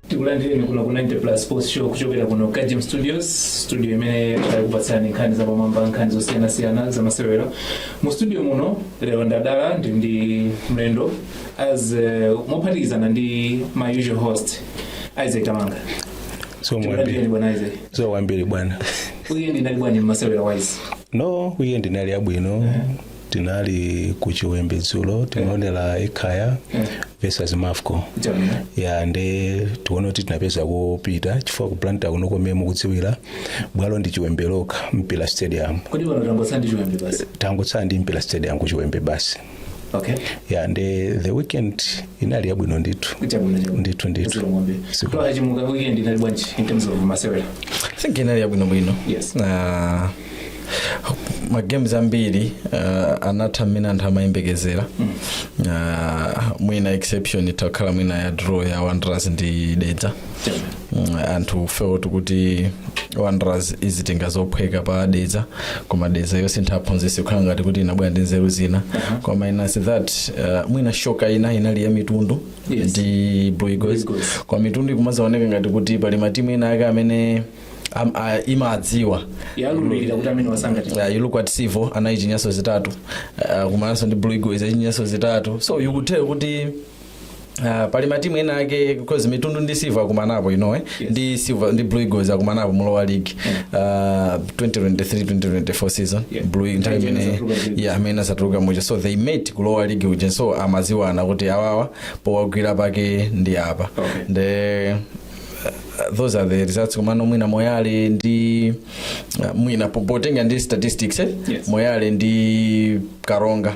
tikulandireni kuno ku 90 plus sports show kuchokera kuno ku GM studios studio imene tikupatsirani nkhani zapamwamba nkhani zosiyanasiyana zamasewero mu studio muno lero ndadala ndi ndi mlendo as uh, mophatikizana ndi my usual host Isaac Kamanga. zikomo kwambiri bwana Isaac? zikomo kwambiri bwana weekend inali bwanji masewero wise. no weekend inali yabwino tinali ku chiwembe dzulo tinaonera Ekhaya versus mafco Jamani. ya nde tiona kuti tinapeza kopita chifukwa ku Blantyre kuno momwe mukudziwira bwalo ndi chiwembe lokha mpira stadium Kodi pano tangotsala ndi chiwembe basi. tangotsala ndi mpira stadium ku chiwembe basi okay ya nde the weekend inali yabwino ndithu kuchabwino chabwino ndithu ndithu Zero ng'ombe. Siku- Twaha Chimuka weekend inali bwanji in terms of masewero I think inali yabwinobwino Yes. Ah, magames ambiri ah, anatha mmene anthu amayembekezera Ah, mwina exception itakhala mwina ya draw ya wanderers ndi dedza Chabwino. Mm, anthu felt kuti wanderers izitenga zophweka pa dedza koma dedza yosintha mphunzitsi kukhala ngati kuti inabwera ndi nzeru zina koma minus that uh, mwina shocker ina inali ya mitundu Yes. ndi blue eagles Blue Eagles. kwa mitundu ikumazaoneka ngati kuti pali matimu ena ake amene am, a, imadziwa yalulira kuti amenewa sangati uh, you look at Civo anayichinyanso zitatu uh, kumananso ndi blue eagles ayichinyanso zitatu so you could tell kuti Uh, pali matimu ena ake because mitundu ndi Civo akumanapo in lower yes. ndi silver ndi blue eagles akumanapo mu lower league uh, 2023-2024 season Yeah. blue nthawi imene imene anatuluka kuja. yeah, amene anatuluka muja so they met ku lower league kuja so amaziwana kuti awawa powagwira pake ndi apa Okay. the uh, those are the results komano mwina moyale ndi uh, mwina po- potenga ndi statistics eh? Yes. moyale ndi karonga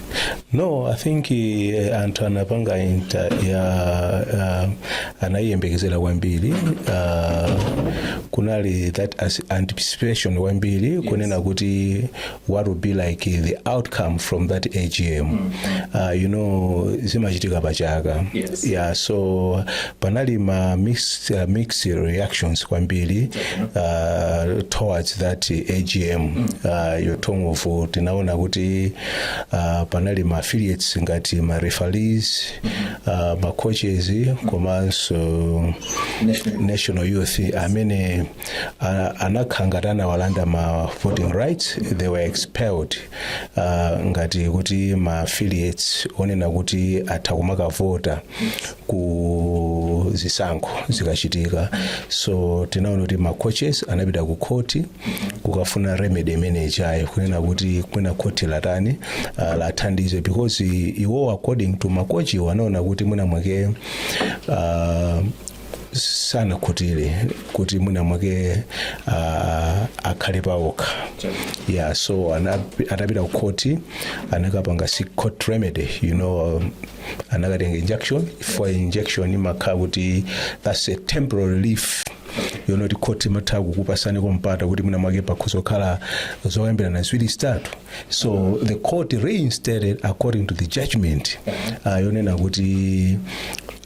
no i think eh, anthu anapanga inter ya uh, anayiyembekezera kwambiri uh, kunali that as- anticipation kwambiri kunena kuti what would be like the outcome from that agm uh, you know zimachitika pachaka Yes. yeah so panali ma mixed, uh, mixed reactions kwambiri uh, towards that agm uh, you talk of tinaona kuti uh, panali ma affiliates ngati ma referees uh, ma coaches komanso national youth amene uh, anakhala ngati anawalanda ma voting rights they were expelled uh, ngati kuti ma affiliates onena kuti atha kumakavota ku zisankho zikachitika so tinaona kuti ma coaches anapita ku khoti kukafuna remedy imene ijayo kunena kuti kwina khoti latani uh, lathandize because iwo according to makochiwo anaona kuti mwina mwake uh, sanakhutire kuti mwina mwake uh, akhale paokha yeah so ana- atapita ku khoti anakapanga si court remedy you know um, anakatenga injunction for injunction imakhala kuti that's a temporary relief yonena kuti court imatha kukupasani ka mpata kuti mwina mwake pakhoza kukhala zokambirana ziwiri zitatu so the court reinstated according to the judgment uh, yonena kuti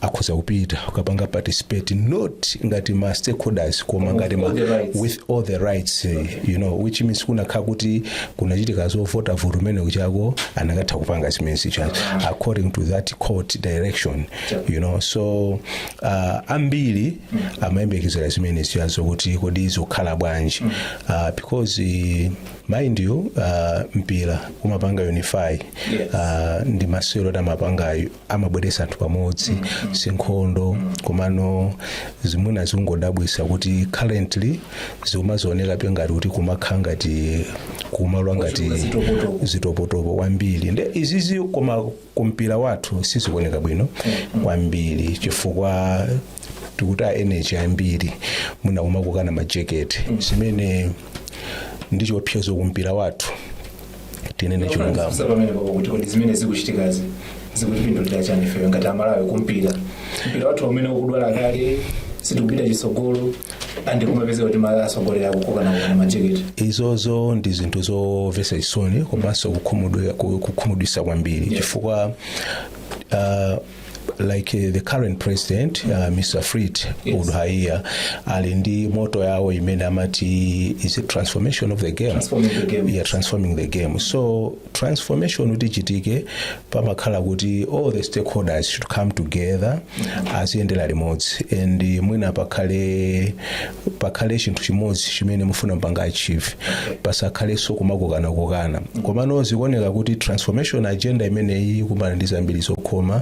akhoza kupita ukapanga participate not ngati ma stakeholders koma ngati ma, all the rights. with all the rights eh, you know which means kunakhala kuti kunachitika zovota vota kumene kujako anakatha kupanga zimenezijazo according to that court direction you know so uh, ambiri amayembekezera zimenezijazo kuti kodi zizakhala bwanji uh, because eh, mind you uh, mpira umapanga unify uh, ndi masewero oti amapangayo amabweretsa anthu pamodzi sinkhondo komano zimene zikungodabwisa kuti currently zikumazaonekabe ngati kuti kumakhala ngati kumalwa ngati zitokotoko kwambiri nde izizi koma kumpira wathu sizikuoneka bwino kwambiri chifukwa tikutaya energy ambiri mwina kumakokana majeketi zimene ndi chiopsezo kumpira wathu tinene chilungamo Sasa pamene pako kuti kodi zimene zikuchitikazi zikutipindulira chani ifeyo ngati amalawi kumpira mpira wathu umene ukudwala kale sitikupita chitsogolo and kumapezeka kuti ma atsogoleri kukokanakokana majeketi izozo ndi zinthu zomvetsa chisoni komanso kukhumudwe- ku- kukhumudwitsa kwambiri chifukwa uh, like uh, the current president uh, mr Fleetwood Yes. yes. Haiya ali ndi moto yawo imene amati is it transformation of the game Transforming the game. yeah, transforming the game so transformation kuti ichitike pamakhala kuti all the stakeholders should come together aziyendera limodzi and eh, mwina pakhale pakhale chinthu chimodzi chimene mufuna mpanga achieve pasakhalenso kumakokanakokana komano zikuoneka kuti transformation agenda imeneyi ikumana ndi zambiri zokhoma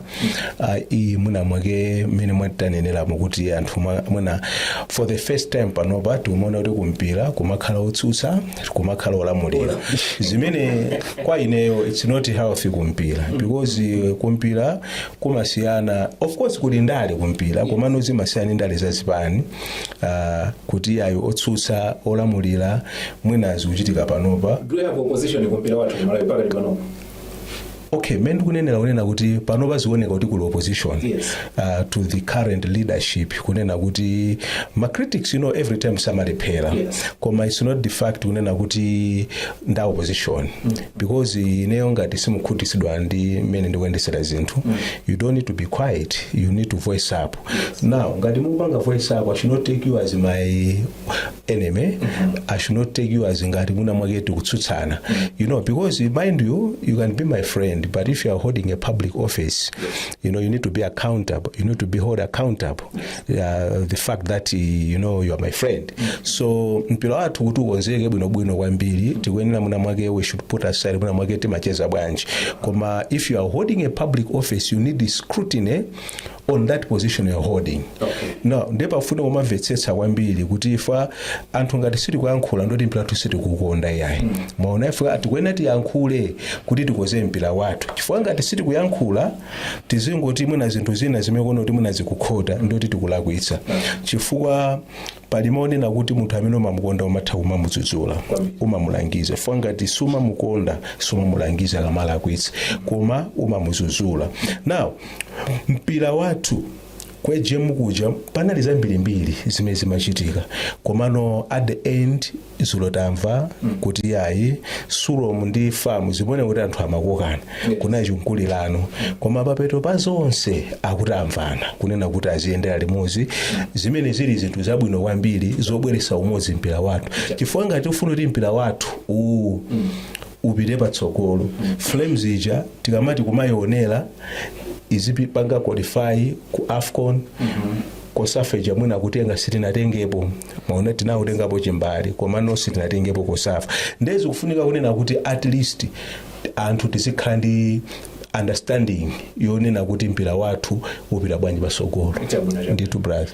ah, iyi mwina mwake mmene mwaneneramo kuti anthu mwa- mwina for the first time panopa tikumaona kuti kumpira kumakhala otsutsa kumakhala olamulira zimene kwa ineyo it's not healthy kumpira because eh, kumpira kumasiyana of course kuli ndale kumpira komano zimasiyana ndi ndale za zipani ah, kuti iyayi otsutsa olamulira mwina zikuchitika panopa do you have opposition kumpira wathu ku Malawi pakati panopa okay mmene ndikunenera kunena kuti panopa zioneka kuti kuli opposition Yes. uh, to the current leadership kunena kuti ma critics you know every time samalephera Yes. koma it's not the fact kunena kuti nda opposition because ineyo ngati simukhutitsidwa ndi mmene ndikuyendesera zinthu you don't need to be quiet you need to voice up now ngati mukupanga voice up i should not take you as my enemy mm -hmm. i should not take you as ngati mwina mwake tikutsutsana mm -hmm. you know because mind you you can be my friend but if you are holding a public office you know you need to be accountable you need to be held accountable uh, the fact that you know you are my friend mm -hmm. so mpira wathu kuti ukonzeke bwinobwino kwambiri tikuyenera mwina mwake we should put aside mwina mwake timacheza bwanji koma if you are holding a public office you need scrutiny on that position you're holding Okay. now nde pafunika kumvetsetsa kwambiri kuti ife anthu ngati sitikuyankhula ndoti mpira wathu sitikukonda iyayi mwaona ife tikuyenera tiyankhule kuti tikonze mpira wathu chifukwa ngati sitikuyankhula tizingoti mwina zinthu zina zimene tikuona kuti mwina zikukhota ndoti tikulakwitsa chifukwa pali mawu onena kuti munthu amene umamukonda umatha kumamudzudzula umamulangiza chifukwa ngati sumamukonda sumamulangiza akamalakwitsa koma umamudzudzula now mpira wathu kwa AGM kuja panali zambirimbiri zimene zimachitika komano at the end dzulo tamva kuti iyayi sulomu ndi famu zikuoneka kuti anthu amakokana kunali chimkulirano koma papeto pa zonse akuti amvana kunena kuti aziyendera limodzi zimene zili zinthu zabwino kwambiri zobweretsa umodzi mpira wathu chifukwa ngati tifuna kuti mpira wathu uwu upite patsogolo flames ija tikamati kumayionera izipanga qualify ku afcon Cosafa ija mwina kutenga sitinatengepo mwaona tinakatengapo chimbale komano sitinatengepo Cosafa ndiye zikufunika kunena kuti at least anthu tizikhala ndi understanding yonena kuti mpira wathu upita bwanji patsogolo ndithu brother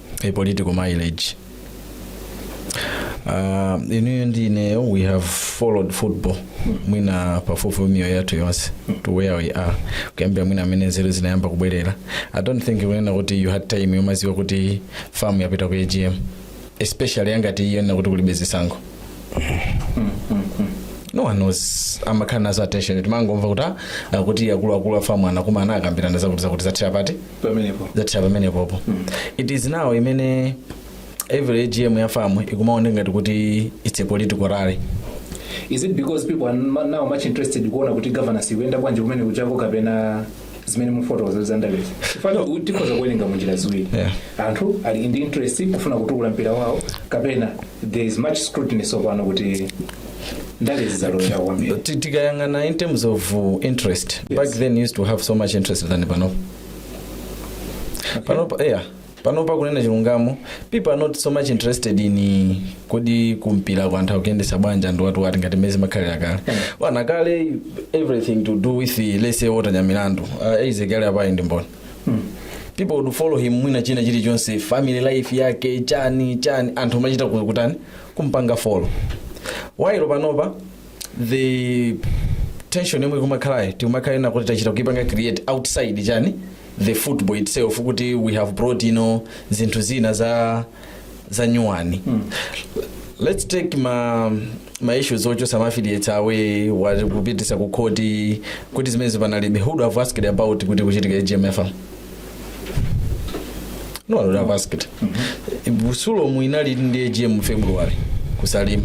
a political mileage uh, inuyo ndi ineyo we have followed football mwina pafupifupi miyoyo yathu yonse to where we are kuyambira mwina mmene nzeru zinayamba kubwerera i don't think kunena kuti you had time yomadziwa kuti famu yapita ku agm especially yangati iyi yonena kuti kulibe zisankho no one knows amakhala nazo attention timangomva kuti ah, akuluakulu a famu anakumana akambirana zakuti zakuti zathera pati pamenepo zathera pamenepopo it is now imene every agm ya famu ikumaoneka ngati kuti it's a political rally is it because people are ma- now much interested kuona kuti governance ikuyenda bwanji kumene kujako kapena zimene mufotokoza za ndalezi mafano tikhoza kuwerenga munjira ziwiri Yeah. anthu ali ndi interest kufuna kutukula mpira wawo kapena there is much scrutiny tsopano kuti ndale zizalowera kwambiri Ti- tikayang'ana in terms of uh, interest back then used to have so much interest than panopa panopa yeah panopa kunena chilungamo people are not so much interested in kodi kumpira kwa anthu akuyendesa bwanji ndi what what ngati mmene zimakhalira kale mwaona kale everything to do with the, let's say Walter Nyamilandu uh, izi kale apayi ndiye mwaona people would follow him mwina china chilichonse family life yake chani chani anthu amachita ku- kutani kumpanga follow while panopa the attention yomwe ikumakhalayo ikumakhala yonena kuti tachita kuipanga create outside chani the football itself kuti we have brought you know zinthu zina za za nyuwani let's take ma ma issues ochotsa ma affiliates away wa- kupititsa ku khoti kuti zimenezi panalibe who would have asked about kuti kuchitika AGM ya FAM no one would have asked sulomu inali ndi agm February ku Salima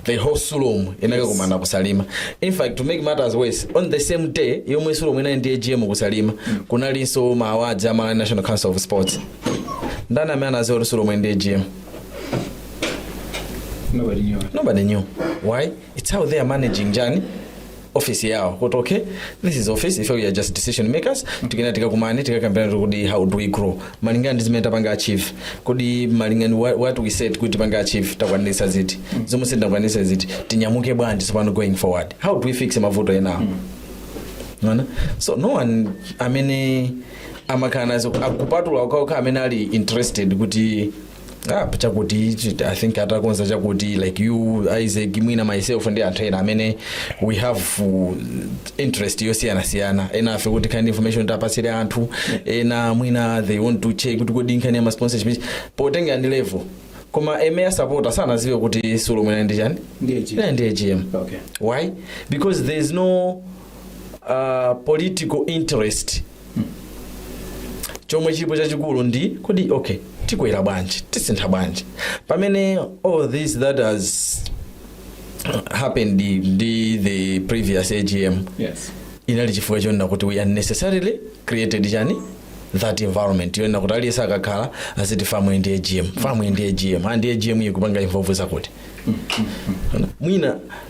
the whole sulomu inakakumana ku Salima in fact to make matters worse on the same day yomwe sulomu inali ndi agm ku Salima kunalinso ma awards a malawi national council of sports ndani amene anadziwa kuti sulomu ili ndi agm nobody knew nobody knew why it's how they are managing chani office yawo kuti okay this is office ife we are just decision makers tikunena tikakumane tikakambirane kuti how do we grow malingana ndi zimene tapanga achieve kodi malingana what, what we said kuti tipanga achieve takwanirisa ziti zomwe sitinakwanirisa ziti tinyamuke bwanji tsopano going forward how do we fix mavuto enawo Mwaona? so no one amene amakhala nazo kupatula okhaokha amene ali interested kuti ah, chakuti chi- i think atakonza chakuti like you isaac mwina myself ndi anthu ena amene we have uh, interest yosiyanasiyana ena ife kuti kind of information tipatsire anthu ena mwina they want to check kuti kodi nkhani ya ma sponsorship ichi. potengera ndi level koma a mere supporter sanadziwe kuti sulomu inali ndi chani Ndiye chiyani? Inali ndi agm Okay. why because there is no uh, political interest chomwe chilipo chachikulu ndi kuti okay tikwera bwanji tisintha bwanji pamene all this that has happened ndi the previous agm Yes. inali chifukwa chonena kuti we unnecessarily created chani that environment yonena kuti aliyense akakhala aziti famu ili ndi agm famu ili ndi agm and agm ikupanga involve zakuti mwina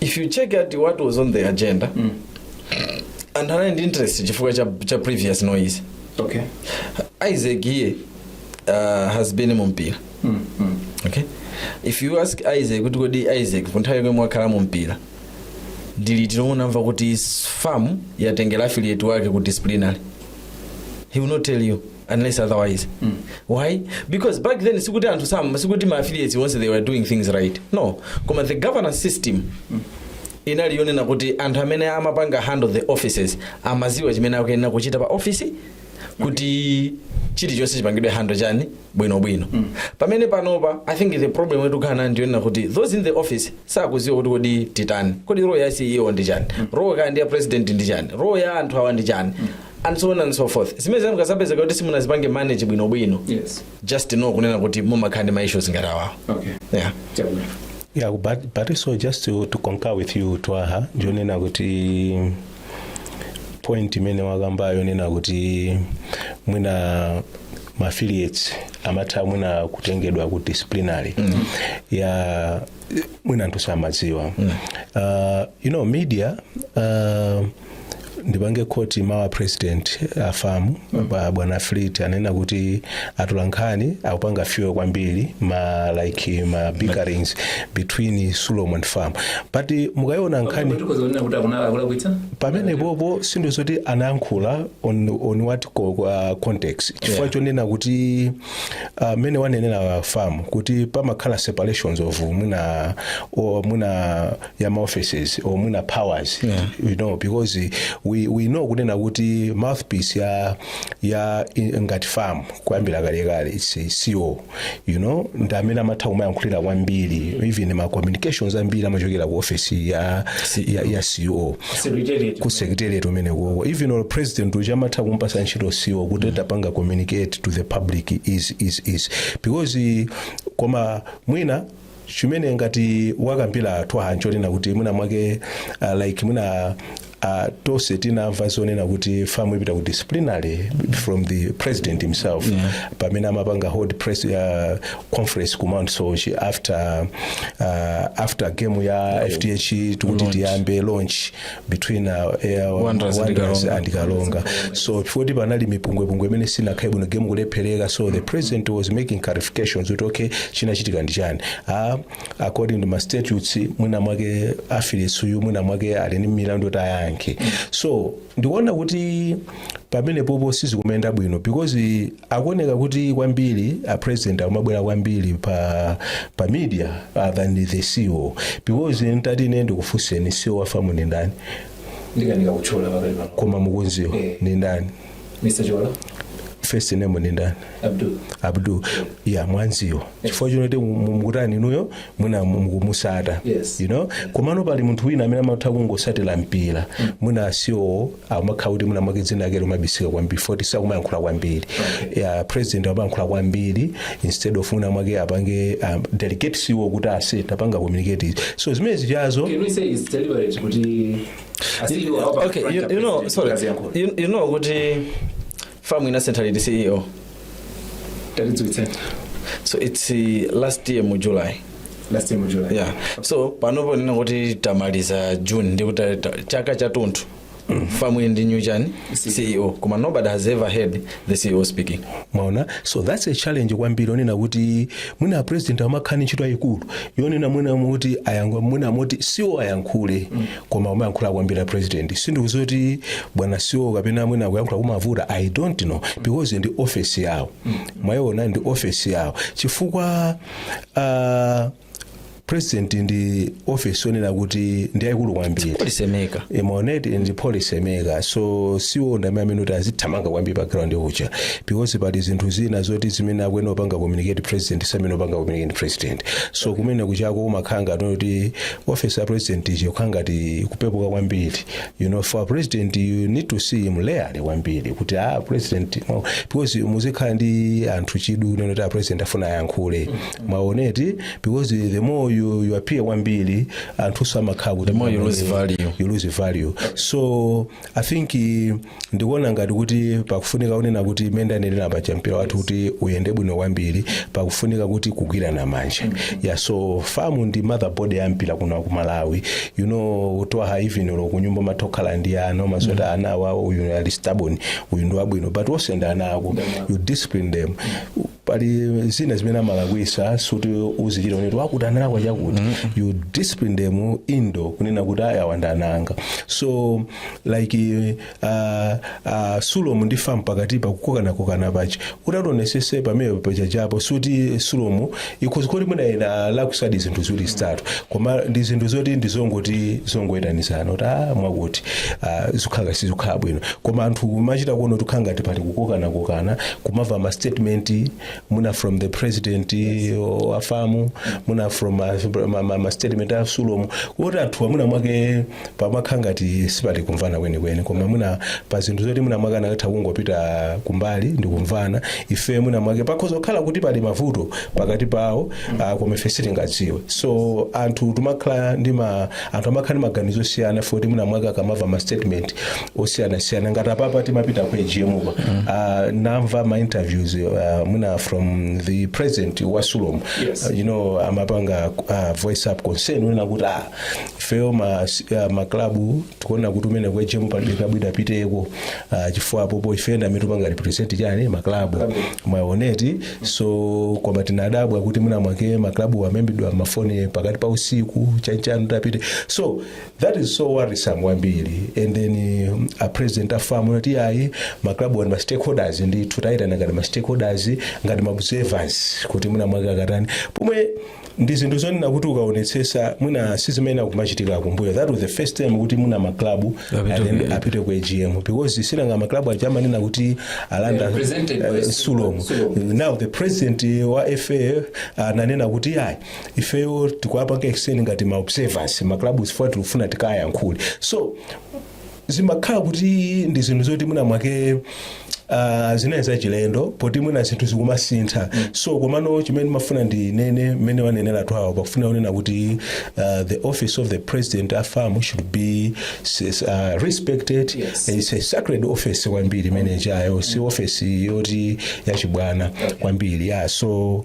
if you check out what was on the agenda anthu anali ndi interest chifukwa cha, cha previous noise okay isaac iye uh, has been mu mpira okay if you ask isaac kuti kodi isaac ku nthawi yomwe mwakhala mu mpira ndi liti lomwe munamva kuti fam yatengera affiliate wake ku disciplinary he will not tell you unless otherwise mm. why because back then sikuti anthu sam sikuti ma affiliates once they were doing things right no koma the governance system mm. inali yonena kuti anthu amene amapanga handle the offices amaziwa chimene akuyenera kuchita pa office kuti chilichonse chipangidwe handle chani bwinobwino mm. pamene panopa i think the problem yomwe tukukamba ndiyonena kuti those in the office sakuziwa kuti kodi titani kodi role ya ceo ndi chani mm. role kaya ndi ya president ndi chani role ya anthu awa ndi chani mm. and so on and so forth zimenezo mukazapezeka kuti simunazipange manage bwinobwino Yes. just know kunena kuti mumakhala ndi maissues ngati awawo Okay. yeah. Chabwino. Yeah, but, but also just to, to concur with you twaha ndiyonena kuti point imene wakambayo yonena kuti mwina ma affiliates amatha mwina kutengedwa ku disciplinary mm. ya mwina anthu samadziwa mm. uh, you know media uh, ndipange quote mawu a president a fam bwana fleet anena kuti atolankhani akupanga fuel kwambiri ma like ma bickerings between sulom and fam but mukayiona nkhani pamenepopo sinthu zoti anayankhula on, on what co- uh, context chifukwa Yeah. chonena kuti uh, mene wanenera fam kuti pamakhala separations of mwina o- mwina ya ma offices or mwina powers Yeah. you know because we, we know kunena kuti mouthpiece ya ya i- ngati fam kuyambira kalekale its a ceo you know ndi amene amatha kumayankhulira kwambiri even ma communications ambiri amachokera ku office ya, ya, ya ceo ku secretariat umene ukoko even or president uja amatha kumpasa ntchito ceo kuti tapanga communicate to the public is is is because eh, koma mwina chimene ngati wakambira twaha nchonena kuti mwina mwake uh, like mwina uh, tonse tinamva zonena kuti fam ipita ku disciplinary from the president himself yeah. pamene amapanga hold press uh, conference ku mount soche after uh, after game ya fdh tikuti tiyambe launch between uh, Air Wanderers and Wanderers Karonga. and Karonga. So chifukwa panali mipungwepungwe imene sinakhale bwino game kulephereka so the president was making clarifications kuti okay chinachitika ndi chani ah, according to ma statutes mwina mwake affiliates uyu mwina mwake ali ndi milandu yoti ayankhe so ndikuona kuti pamenepopo sizikumaenda bwino because akuoneka kuti kwambiri a president akumabwera kwambiri pa pa media uh, than the CEO because ntati ine ndikufunseni CEO wa fam ni ndani ndikanika kutchula pakali pano koma mukunziwa Eh. ni ndani mr chola first name ni ndani abdul abdul ya mwanziwa chifukwa choti mukutani inuyo mwina mukumutsata Yes. you know komano pali munthu wina amene amatha kungotsatira mpira mwina a ceo amakhala kuti mwina mwake dzina lake limabisika kwambiri foti sakumayankhula kwambiri yeah, president amayankhula kwambiri instead of mwina mwake apange um, delegate ceo kuti ase tapanga communicate izi. so zimene zijazo Can we say it's deliberate kuti a ceo okay you, you know sorry you, you know kuti famu inasintha liti ceo tatidziwitseni so it's uh, last year mu july last year mu july yeah so panopo kunena kuti tamaliza june ndikuti ta- chaka chathunthu famu ili ndi new chani ceo koma nobody has ever heard the ceo speaking mwaona so that's a challenge kwambiri onena kuti mwina president amakhala ndi ntchito yayikulu yonena mwina kuti ayankhule mwina moti ceo ayankhule koma kumayankhula kwambiri a president sindikudziwa kuti bwana ceo kapena mwina kuyankhula kumavuta i don't know because ndi ofesi yawo mwayiona ndi ofesi yawo chifukwa uh, president ndi ofesi yonena kuti ndi yayikulu kwambiri policy maker mwaoneti ndi policy maker so ceo ndi amene kuti azithamanga kwambiri pa ground uja because pali zinthu zina zoti zimene akuyenera kupanga communicate president samayenera kupanga communicate president so kumene kujako umakhala ngati kuti office ya president ija kukhala ngati kupepuka kwambiri you know for a president you need to see him rarely kwambiri kuti ah president no because muzikhala ndi anthu chidwi kunena kuti a president afuna ayankhule mwaoneti because the more you, you appear kwambiri anthu samakhala kuti The more you lose value. you lose value so i think eh, ndikuona ngati kuti pakufunika kunena kuti mmene ndanenera paja mpira wathu kuti uyende bwino kwambiri pakufunika kuti kugwirana manja ya so famu ndi mother body ya mpira kuno ku malawi you know twaha even olo kunyumba umatha kukhala ndi ana umadziwa kuti ana awawa uyu ali stubborn uyu ndi wabwino but onse ndi ana ako you discipline them pali zina zimene amalakwitsa sikuti uzichita kuti wakuti analakwa chakuti you discipline them indoor kunena kuti awa ndi ana anga so like uh, uh, sulomu ndi famu pakati pa kukokanakokana paja utaonetsetsa pamene pajapo suti sulomu ikhoza kuti mwina inalakwitsadi zinthu ziwiri zitatu koma ndi zinthu zoti ndizongoti zongoyitanizana kuti ah, mwakuti ah, zikhala sizikhala bwino koma anthu kumachita kuona kuti kukhala ngati pali kukokanakokana kumava ma statement mwina from the president uh, wa famu mwina from uh, ma, ma, ma statement a sulomu kuti anthu mwina mwake pamakhala ngati sipali kumvana kwenikweni koma mwina pali zinthu zoti mwina mwake anatha kungopita kumbali ndi kumvana ife mwina mwake pakhoza kukhala kuti pali mavuto pakati pawo uh, koma ife sitingadziwe so anthu timakhala ndi ma anthu amakhala ndi maganizo osiyana foti mwina mwake akamava ma statement osiyanasiyana ngati apapa timapita ku agm uko uh, namva ma interviews uh, mwina from the president wa sulom Yes. uh, you know amapanga uh, voice up concern kunena kuti ah, ifeyo ma, uh, maklabu tikuona kuti umene ku agm palibe klabu idapiteko uh, chifukwa apopo ife ndi amene tupanga represent chani maklabu mwaona eti so koma tinadabwa kuti mwina mwake maklabu amaimbidwa mafoni pakati pa usiku chanichani tapite so That is so worrisome kwambiri and then um, a president a FAM anati ayi ma club awa ndi ma stakeholders nde tikuwayitana ngati ma stakeholders ngati ma observers kuti mwina mwake akatani pomwe ndi zinthu zonena kuti ukaonetsesa mwina sizimene zikumachitika kumbuyo that was the first time kuti mwina ma club Apite and then ku- apite ku AGM because sinanga ma club aja amanena kuti ali under Represented by eh, Sulom. Sulom. now the president wa FA ananena kuti ayi ifeyo tikuwapanga extend ngati ma observers ma club chifukwa tikufuna tikayankhule so zimakhala kuti ndi zinthu zoti mwina mwake uh, zinali zachilendo poti mwina zinthu zikumasintha so komano chimene ndimafuna ndinene mmene wanenera Twaha pakufuna kunena kuti uh, the office of the president wa FAM should be s- s- uh, respected Yes. it's a sacred office kwambiri imene ijayo si office yoti yachibwana kwambiri yeah so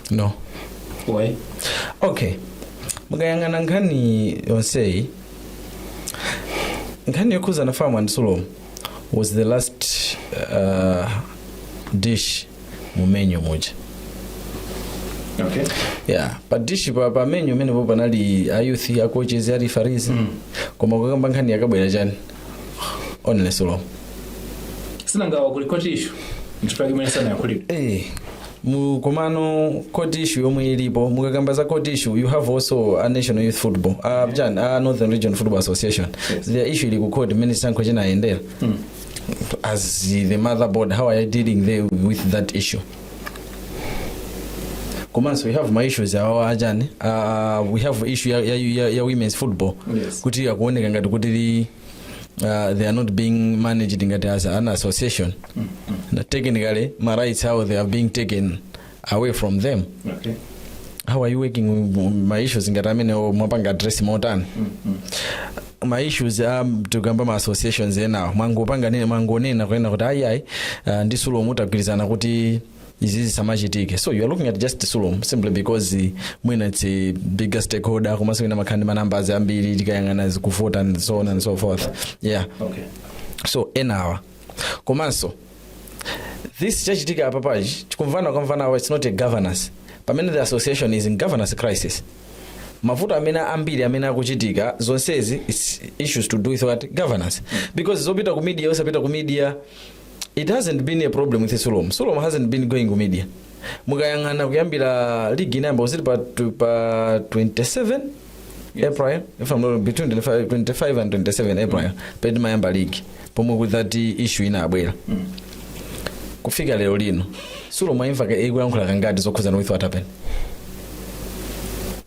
no Why? okay mukayang'ana nkhani yonseyi nkhani yokhuzana FAM and Sulom was the last uh, dish mu menu muja Okay. yeah pa dish pa, pa menu imenepo panali a youth a coaches a referees mm. koma kukamba nkhani yakabwera chani only Sulom sinanga awa kuli court issue mchifukwa mwina sanayankhulidwe eh mu komano court issue yomwe ilipo mukakamba za court issue you have also a national youth football uh, chani uh, northern region football association Yes. their issue ili ku court mmene chisankho chinayendera as the mother body how are you dealing there with that issue komanso we have ma issues awawa achani uh, we have issue ya, ya, ya, ya women's football Yes. kuti akuoneka ngati kuti li, uh, they are not being managed ngati as an association Na technically ma rights how they are being taken away from them okay. how are you working with ma issues ngati amene mwapanga address motani ma issues a tikukamba ma associations enawa mwangopanga nene mwangonena kunena kuti ayi ayi uh, ndi Sulom tagwirizana kuti izi zisamachitike so you are looking at just Sulom simply because uh, mwina its a bigger stakeholder komanso mwina amakhala ndi manumbers ambiri tikayang'ana zakuvota and so on and so forth yeah okay. so enawa komanso this chachitika apapa chikumvana kumvana apa it's not a governance pamene the association is in governance crisis mavuto amene ambiri amene akuchitika zonsezi is issues to do with what governance because zopita ku media osapita ku media it hasn't been a problem with sulom sulom hasn't been going ku media mukayang'ana kuyambira ligi inayamba was it pa, tw- pa 27 april if I'm not, between 25, 25 and 27 april pamene imayamba league pomwe that issue inabwera kufika lero lino sulom mwaimva ka- ikuyankhula kangati zokhuzana with what happened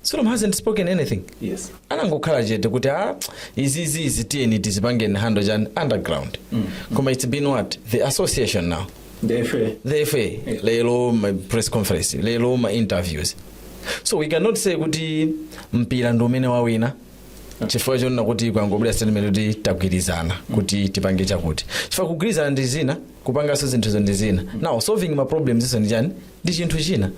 sulom hasn't spoken anything yes anangokhala chete kuti a izizi izi tiyeni tizipangeni handle chani underground koma it's been what the association now The FA. the FA lero ma press conference lero ma interviews so we cannot say kuti mpira ndi umene wawina chifukwa chonena kuti kwangobwera statement kuti tagwirizana kuti tipange chakuti chifukwa kugwirizana ndi zina kupanganso zinthuzo ndi zina now solving ma problems iso ndi chani ndi chinthu china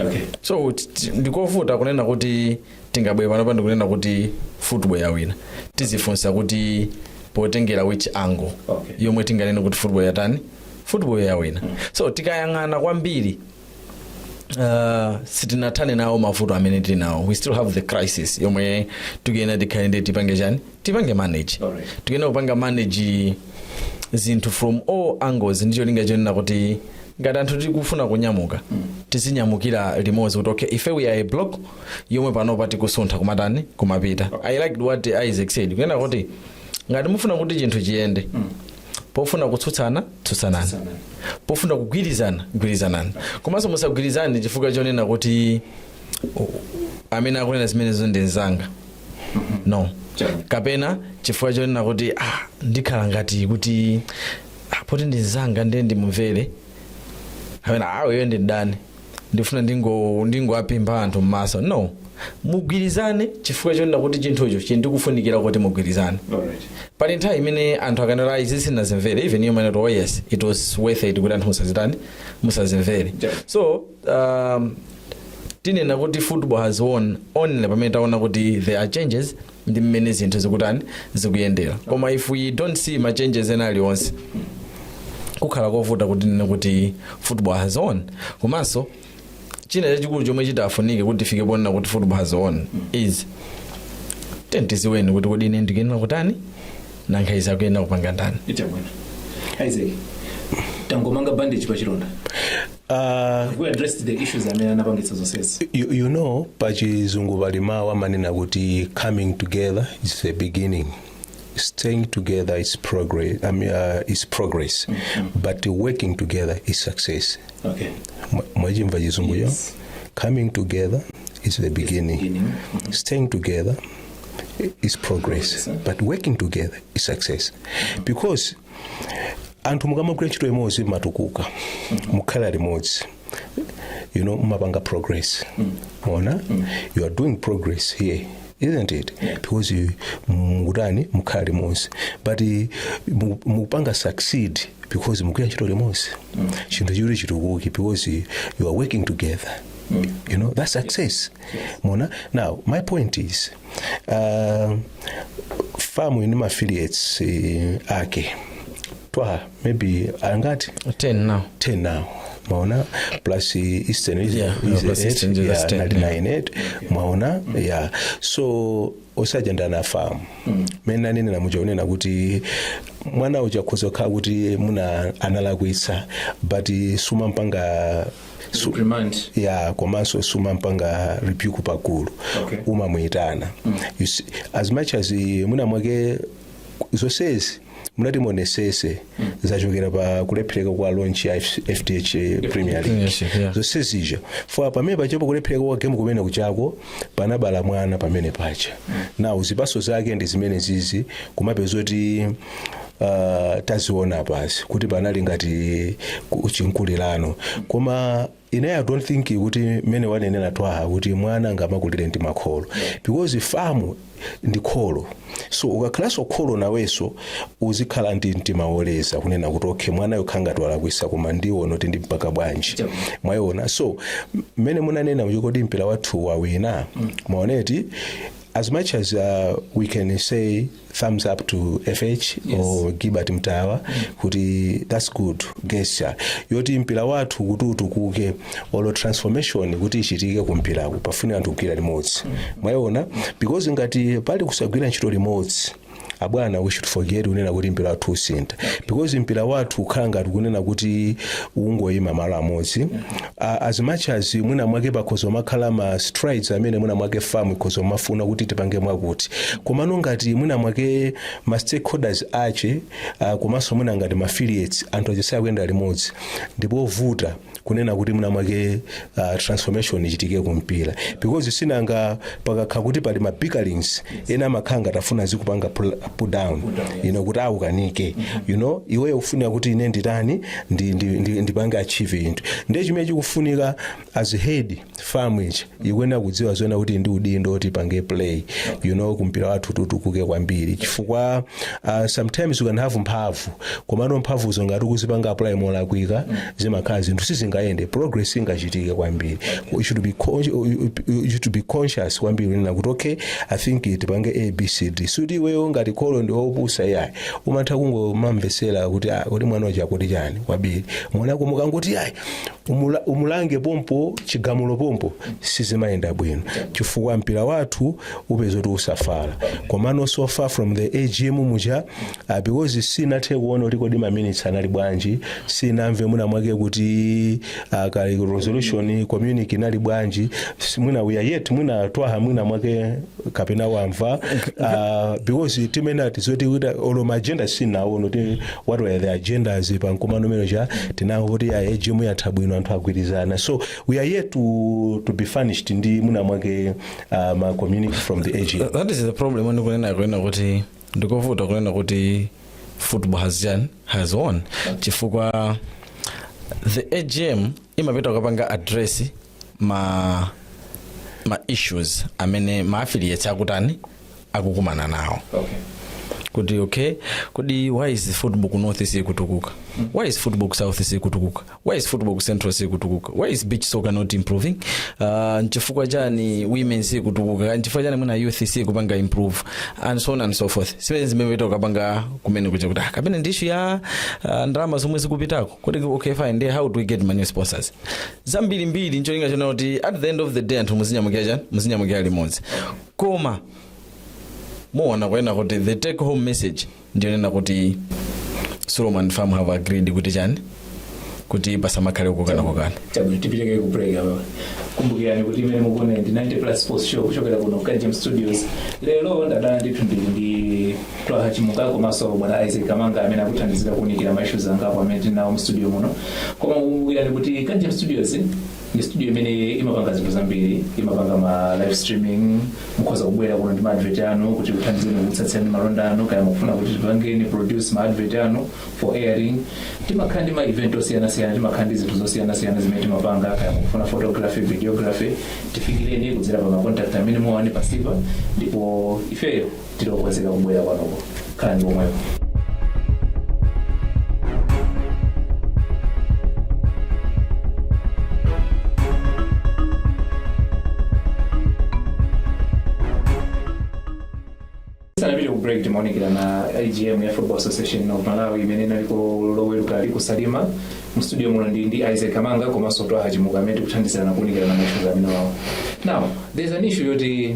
Okay. so t- t- ndikovuta kunena kuti tingabwere panopa ndikunena kuti football yawina tizifunsa kuti potengera which angle Okay. yomwe tinganene kuti football yatani football yawina so tikayang'ana kwambiri uh, sitinathane nawo mavuto amene tili nawo we still have the crisis yomwe tikuyenera tikhale ndi tipange chani tipange manage Alright. tikuyenera kupanga manage zinthu from all angles ndi cholinga chonena kuti ngati anthu tikufuna kunyamuka tizinyamukira limodzi kuti okay ife we are a block yomwe panopa tikusuntha kumatani kumapita i liked what isaac said kunena kuti ngati mufuna kuti chinthu chiyende pofuna kutsutsana tsutsanani pofuna kugwirizana gwirizanani komanso musagwirizane chifukwa chonena kuti u- amene akunena zimenezo ndi mzanga no kapena chifukwa chonena kuti ah, ndikhala ngati kuti ah, poti ndi mzanga ndiye ndimumvere kapena aweyo ndi mdani ndifuna ndingo- ndingowaphimba anthu m'maso no mugwirizane chifukwa chonena kuti chinthucho chili kufunikira kuti mugwirizane Alright. pali nthawi imene anthu akanena ayi izi sinazimvere even you might know, oh yes it was worth it kuti anthu musazitani musazimvere Yeah. so um, tinena kuti football has won only pamene taona kuti there are changes ndi mmene zinthu zikutani zikuyendera koma if we don't see ma changes ena alionse kukhala kovuta kuti tinene kuti football has won komanso china chachikulu chomwe chitafunike kuti tifike ponena kuti football has won is then tidziweni kuti kodi ine ndikuyenera kutani nkhani sizikuyenda kupanga ndani chabwino isaac tangomanga bandage pa chilonda uh, we addressed the issues amene anapangitsa zonsezi you, you know pachizungu pali mawu amene amanena kuti coming together is the beginning staying together is progress, I mean, uh, is progress. but working together is success okay Mwa- mwachimva chizunguyo Yes. coming together is the beginning beginning. staying together is progress but working together is success because anthu mukamagwira ntchito limodzi mumatukuka mukhala limodzi you know mumapanga progress mwaona you are doing progress here isn't it because you- mukutani mukhala limodzi but eh, mu- mukupanga succeed because mukugwira ntchito limodzi chinthu chiri chitukuke because you are working together you know that's success mona now my point is uh, famu ni affiliates uh, ake twa maybe angati 10 now 10 now maona plus uh, eastern is, Yeah, is plus eight, Eastern is yeah, 10, nali yeah. nine eight, mwaona yeah so osajenda na famu mena nene namuchaonena kuti mwana uja kuzokhala kuti muna analakwitsa but sumampanga Su- Reprimand. ya komanso sumampanga rebuke pagulu Okay. umamuyitana You see, as much as eh, mwina mwake zonsezi mutati muonesese zachokera pa kulephereka kwa launch ya F- fdh premier league Yes, yeah. zonsezija for pamene pachepo kulephereka kwa game kumene kuchako panabala mwana pamene paja now zipaso zake ndi zimene zizi kumapeza kuti uh, taziona pasi kuti panali ngati ku- chinkulirano koma ine i don't think kuti mmene wanenera twaha kuti mwana nkamakulire ndi makholo because FAM ndi kholo so ukakhalanso kholo nawenso uzikhala ndi mtima woleza kunena kuti okay mwanayo akhala ngati walakwisa koma ndiona kuti ndimpanga bwanji mwayiona so m- mmene munanena kuti kodi mpira wathu wawina mwaona eti as much as uh, we can say thumbs up to FAM or gilbert Mittawa kuti thats good gesture yoti mpira wathu kuti utukuke olo transformation kuti ichitike ku mpiraku pafunika anthu kugwira limodzi mwayiona because ngati pali kusagwira ntchito limodzi abwana we should forget kunena kuti mpira wathu usintha because mpira wathu ukhala ngati kunena kuti ungoyima malo amodzi a, as much as mwina mwake pakhoza kumakhala ma strides amene mwina mwake FAM ikhoza kumafuna kuti tipange mwakuti komano ngati mwina mwake ma stakeholders ache uh, komanso mwina ngati ma affiliates anthu ache sakuyenda limodzi ndi povuta kunena kuti mwina mwake uh, transformation ichitike kumpira because sinanga pakakhala kuti pali ma bickerings ena amakhala ngati afuna azikupanga pull, pull down you know, kuti ukanike you know iweyo ufuna kuti ine nditani ndi, ndi, ndi, ndipange achieve zinthu ndiye chimene chikufunika as head FAM ichi ikuyenera kudziwa zona kuti ndi udindo kuti ipange play you know kuti mpira wathu utukuke kwambiri chifukwa uh, sometimes you can have mphamvu komano mphamvuzo ngati ukuzipanga apply molakwika zimakhala zinthu sizingayende progress singachitike kwambiri you should be, con- you- you- you should be conscious kwambiri kunena kuti okay i think tipange abcd sikuti iweyo ngati kholo ndi opusa yayi umatha kungomamvesera kuti ah, kodi mwana uja akuti chani kwabiri mwanako mukangoti ayi umula- umulange pompo chigamulo pompo sizimayenda bwino chifukwa mpira wathu upeza kuti usafala komano so far from the agm muja ah, because sinathe kuona kuti kodi maminitsi anali bwanji sinamve mwina mwake kuti ah, ka resolution communique inali bwanji Si- mwina we are yet mwina twaha mwina mwake kapena wamva uh, because timene tizoti kuita olo ma agenda sinawaone kuti what were the agendas pa mkumano umene uja tinangoona kuti ya AGM yatha bwino anthu agwirizana so we are yet to, to be furnished ndi mwina mwake uh, ma communique from the AGM that is the problem when kunena kunena kuti ndikovuta kunena kuti football has done has won chifukwa the agm imapita kukapanga address ma ma issues amene ma affiliates akutani akukumana nawo okay kuti okay kodi why is football ku north isakutukuka why is football ku south isakutukuka why is football ku central isakutukuka why is beach soccer not improving uh, nchifukwa chani women sikutukuka nchifukwa chani mwina youth sikupanga improve and so on and so forth zimene zimene tokapanga kumene kuja kuti ah, kapena ndi issue ya uh, ndalama zomwe zikupitako kodi okay fine then how do we get money sponsors zambirimbiri ncholinga chonena kuti at the end of the day anthu muzinyamukira chani muzinyamukira limodzi koma muona kunena kuti the take home message ndiyonena kuti SULOM and FAM have agreed kuti chani kuti pasamakhale kukokana kokana chabwino tipiteko ku break apa kumbukirani kuti imene mukuona ndi 90 plus sports show kuchokera kuno Kanjem studios lero ndadala ndithu ndili ndi Twaha Chimuka komanso bwana Isaac Kamanga amene akuthandizira kuunikira ma issues angapo amene tili nawo mu studio muno koma kumbukirani kuti Kanjem Studios ndi studio imene imapanga zinthu zambiri imapanga ma live streaming mukhoza kubwera kuno ndi ma advert anu kuti tikuthandizeni kutsatsirani malonda anu kaya mukufuna kuti tipangeni produce ma advert anu for airing timakhala ndi ma event osiyanasiyana timakhala ndi zinthu zosiyanasiyana zimene timapanga kaya mukufuna photography videography tifikireni kudzera pa ma contact amene muwaone pasipa ndipo ifeyo tili okonzeka kubwera kwanuko khalani pomwepo tisanapite ku break timaunikirana AGM ya football association of malawi imene inaliko loweruka ali ku Salima mu studio muno ndi ndi isaac kamanga komanso twaha chimuka amene tikuthandizana kuunikirana maishuzi amenewawo now there's an issue yoti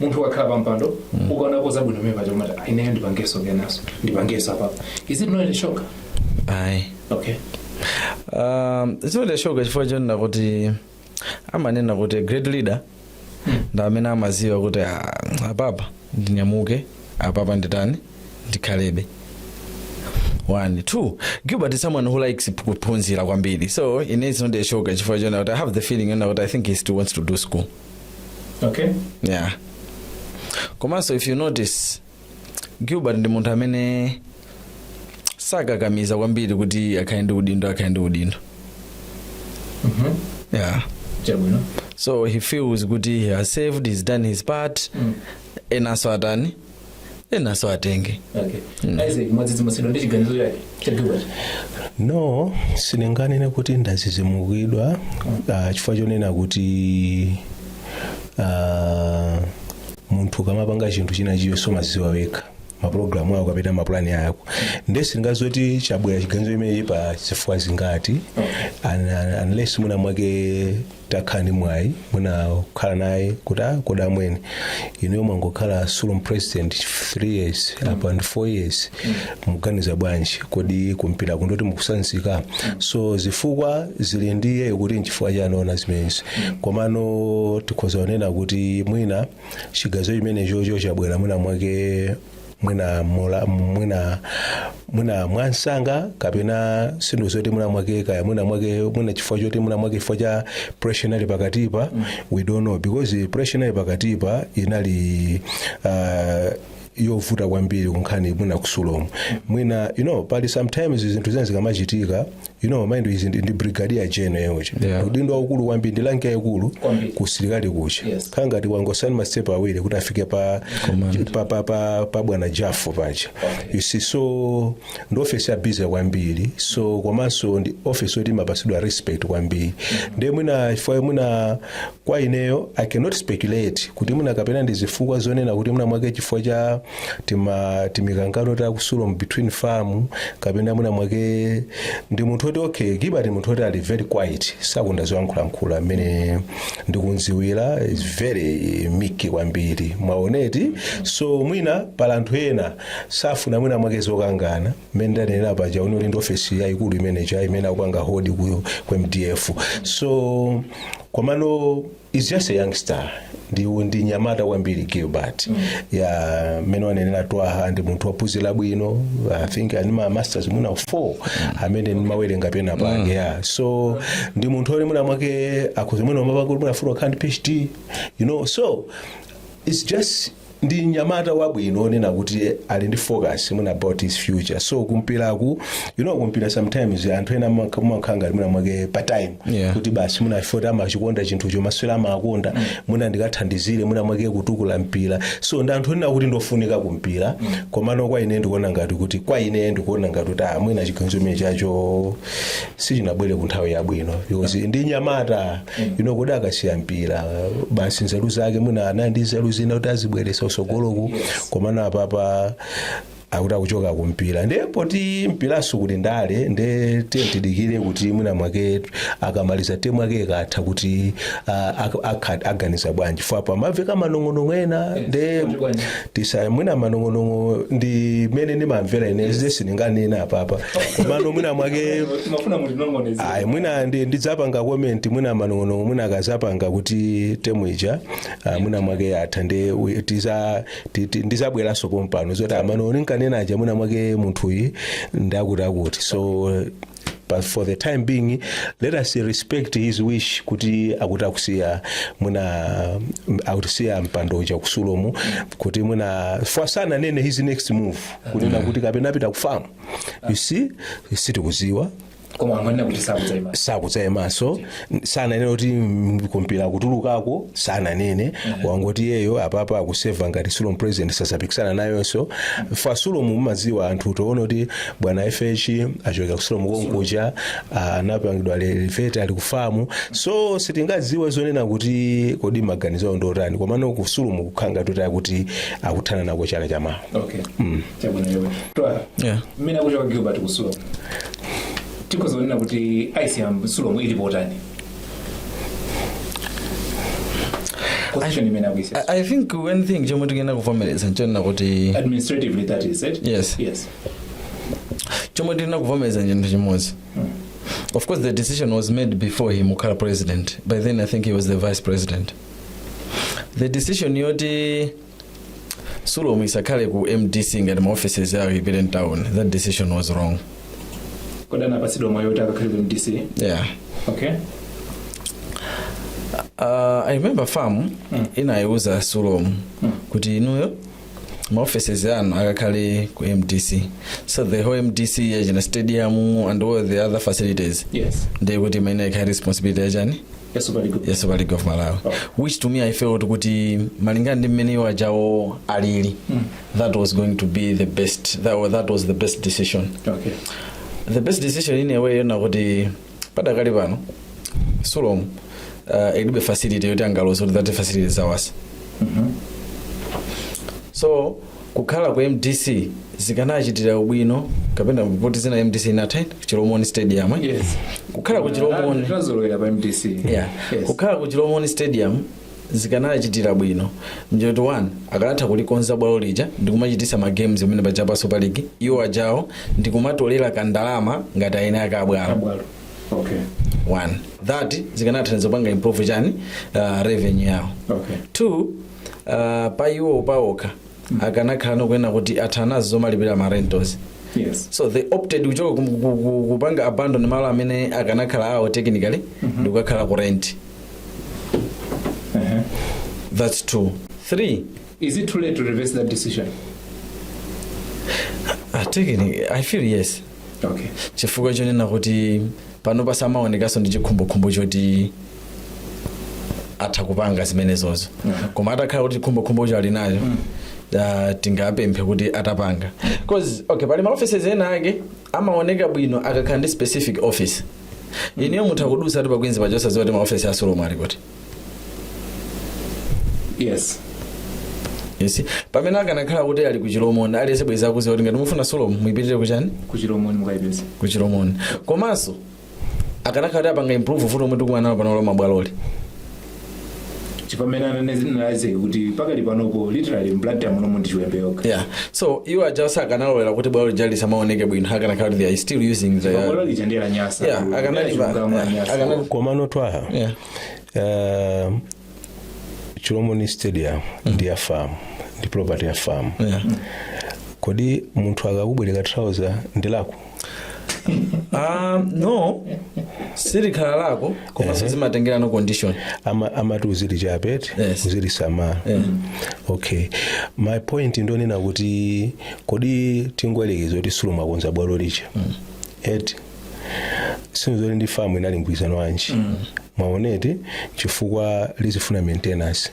munthu ukakhala pa mpando ukaonako zabwino pamenepaja umati "Ah, ineyo ndipangeso kenaso ndipangeso apapa is it not a shocker ayi okay um, it's not a shocker chifukwa chonena kuti amanena kuti a great leader ndi amene amaziwa kuti "Ah, apapa ndinyamuke apapa nditani ndikhalebe one two gilbert is someone who likes kuphunzira kwambiri so it is not a shocker chifukwa chonena kuti i have the feeling yonena kuti i think he still wants to do school okay yeah komanso if you notice gilbert ndi munthu amene sakakamiza kwambiri kuti akhale ndi udindo akhale ndi udindo Mhm. yeah chabwino so he feels kuti he has served he's done his part Mm. enanso atani enaso atenge okay isaac mwadzidzimutsidwa ndi chiganizo chake cha gilbert no sindinganene kuti ndazizimukidwa uh, chifukwa chonena kuti uh, munthu ukamapanga chinthu chinachicho umaziwa wekha mapulogalamu ako kapena mapulani ako nde sindingaziwe kuti chabwera chiganizo chimenechi pa zifukwa zingati un- un- unless mwina mwake takhala ndi mwayi mwina kukhala naye kuti ah kodi amwene inuyo mwangokhala sulom president 3 years apa ndi 4 years mwaganiza bwanji kodi kumpira kuno kuti mukutsanzika so zifukwa zili ndi iyeyo kuti nchifukwa chani waona zimenezi komano tikhoza kunena kuti mwina chiganizo chimenechocho chabwera mwina mwake mwina mula- mwina mwina mwamsanga kapena ndi nthawi yoti mwina mwake kaya mwina mwake mwina chifukwa choti mwina mwake chifukwa cha pressure inali pakatipa we don't know because pressure inali pakatipa inali uh, yovuta kwambiri kunkhani mwina ku Sulom mwina you know pali sometimes zinthu zina zikamachitika you know mind you, he is ndi, ndi brigadier general uja Yeah. udindo waukulu kwambiri ndi rank yaikulu Kwambiri. kusilikali kuja Yes. khala ngati wangotsala ndi mastepu awiri kuti afike pa, Command. pa, pa, pa, pa bwana Jaffu paja you see so ndi ofesi ya busy kwambiri so komanso ndi ofesi yoti imapasidwa respect kwambiri ndiye mwina chifukwa mwina kwa ineyo i cannot speculate kuti mwina kapena ndi zifukwa zonena kuti mwina mwake chifukwa cha tima timikangano ta ku sulomu between fam kapena mwina mwake ndi munthu oti okay gilbert munthu oti ali very quiet sakonda zoyankhulankhula mmene ndikumziwira is very meek kwambiri mwaona eti so mwina pali anthu ena safuna mwina mwake zokangana mmene ndanenera paja ali ndi ofesi yayikulu imeneja imene akupanga hold ku, ku mdf so komano is just a youngster ndi ndi nyamata kwambiri gilbert ya mmene wanenera twaha ndi munthu waphunzira bwino i think ali ndi ma masters mwina 4 amene ndimawerenga pena pake ya so ndi munthu oti mwina mwake akhoza mwina mapangulu mwina afuna kukhala ndi phd you know so it's just ndi mnyamata wabwino onena kuti ali ndi focus mwina about his future so kumpiraku you know kumpira sometimes anthu ena amakha- amakhala ngati mwina mwake pa time Yeah. kuti basi mwina foti amachikonda chinthucho masewera amakonda mwina ndikathandizire mwina mwake kutukula mpira so ndi anthu onena kuti ndofunika kumpira komano kwa ine ndikuona ngati kuti kwa ine ndikuona ngati kuti ah, mwina chiganizo chimene chacho sichinabwere ku nthawi yabwino because ndi nyamata ino kodi akasiya mpira basi nzeru zake mwina anali ndi nzeru zina kuti azibweresa kusogoloku komano apapa akuti akuchoka kumpira nde poti mpiraso kuti ndale nde tiye tidikire kuti mwina mwake akamaliza temu yake ikatha kuti ah, ak- akha- aganiza bwanji fo apa amamveka manong'onong'o ena nde tisaya mwina manong'onong'o ndi mmene ndimamvera ine zide sindinganena apapa komano mwina mwake timafuna mutinong'oneze ayi mwina ndi- ndidzapanga comment mwina manong'onong'o mwina akazapanga kuti temu ija ah, mwina mwake yatha nde we- tiza- ti- ti- ndizabweranso pompano zoti manong'onong'o nkanena aja mwina mwake munthuyi ndakutiakuti so but for the time being let us respect his wish kuti akuti akusiya mwina mm, akusiya mpando uja ku sulomu kuti mwina fwa sananene his next move kunena kuti kapena apita ku famu you see sitikuziwa koma amanena kuti sakudzaima sakudzayimanso sananene kuti mm, kumpira kutulukako sananene wangoti iyeyo apapa akuseva ngati sulomu president sazapikisana nayonso fa sulomu mumadziwa anthu toona kuti bwana fh achokera ku sulomu konkuja ah, anapangidwa elevate ali ku famu so sitingadziwe zonena kuti kodi maganizo awo ndiotani komano ku sulomu kukhanga totaya kuti akuthana nako chaka chamawa okay. chabwino chabwino twaha Yeah. mmene akuchoka gilbert ku sulomu tikhoza kunena kuti icm sulomu ili potani position imene akuisiya I, I think one thing chomwe tikuyenera kuvomereza nchonena kuti administratively that is it Yes. yes chomwe tikuyenera kuvomereza chinthu chimodzi of course the decision was made before him kukhala president by then i think he was the vice president the decision yoti sulom isakhale ku mdc ngati ma offices awo ipite mtown that decision was wrong kodi anapatsidwa mwayi kuti akakhale ku mdc yeah okay uh, i remember fam Mm. inayiuza sulom Mm. kuti inuyo ma offices anu akakhale ku mdc so the whole mdc yachina stadium and all the other facilities yes ndiye kuti imene ikhale responsibility yachani ya super league ya super league of malawi which to me i felt kuti malingana ndi mmene iwo ajawo alili that was going to be the best that, wa- that was the best decision okay the best decision in a way yona kuti padakali pano sulom uh, ilibe facility yoti angaloza kuti that facility is ours so kukhala ku mdc zikanachitira ubwino kapena poti zina mdc inatha chilomoni stadium eh? Yes. kukhala ku chilomoni tinazolowera pa mdc yeah. Yes. kukhala ku chilomoni stadium zikanachitira bwino nchoti 1 akanatha kulikonza bwalo lija ndikumachitisa ma games amene paja pa super league iwo ajawo ndikumatolera kandalama ngati aeni ake abwalo abwalo okay one that zikanathandiza kupanga improve chani uh, revenue yawo okay two uh, pa iwo paokha akanakhalano kunena kuti athana nazo zomalipira ma rentals yes so they opted kuchoka ku- ku- ku- kupanga abandon malo amene akanakhala awo technically ndi kukakhala ku rent that's two three is it too late to reverse that decision uh, technically i feel yes okay chifukwa chonena kuti panopa samaonekanso ndi chikhumbokhumbo choti atha kupanga zimenezozo koma atakhala kuti chikhumbokhumbocho ali nacho ah, tingapemphe kuti atapanga cause okay pali maoffices ena ake amaoneka bwino akakhala ndi specific office ineyo mutha kudusa ati pa queens paja osaziwa kuti maoffice a sulom ali kuti yes yes pamene akanakhala kuti ali ku chilomoni aliyense bwezi akuziwa kuti ngati mufuna sulom muipitire kuchani kuchilomoni mukayipeza ku chilomoni komanso akanakhala kuti apanga improve vuto lomwe tikumana nalo pano la mabwaloli chipamene ananezina lazeke kuti pakali panopo literally mblantyre munomo ndi chiwembe yokha yeah so iwo ajawo sakanalolera kuti bwalo lija lisamaoneke bwino akanakhala kuti they are still using the bwalo lija nde lanyasa Yeah, Bwalo akanali- lija chilungamo lanyasa. akanali- komano twaha Yeah. uh, chilomoni stadium ndi ya fam ndi property ya fam Yeah. kodi munthu akakubwereka trouser ndi lako Ah, no silikhala lako komanso zimatengerano condition Ama- amati uzilichapa eti Yes. uzilisamala okay my point ndonena kuti kodi tingoyerekeza kuti sulom akonza bwalo lija eti sinzoli ndi fam inali mgwirizano wanji mwaona eti chifukwa lizifuna maintenance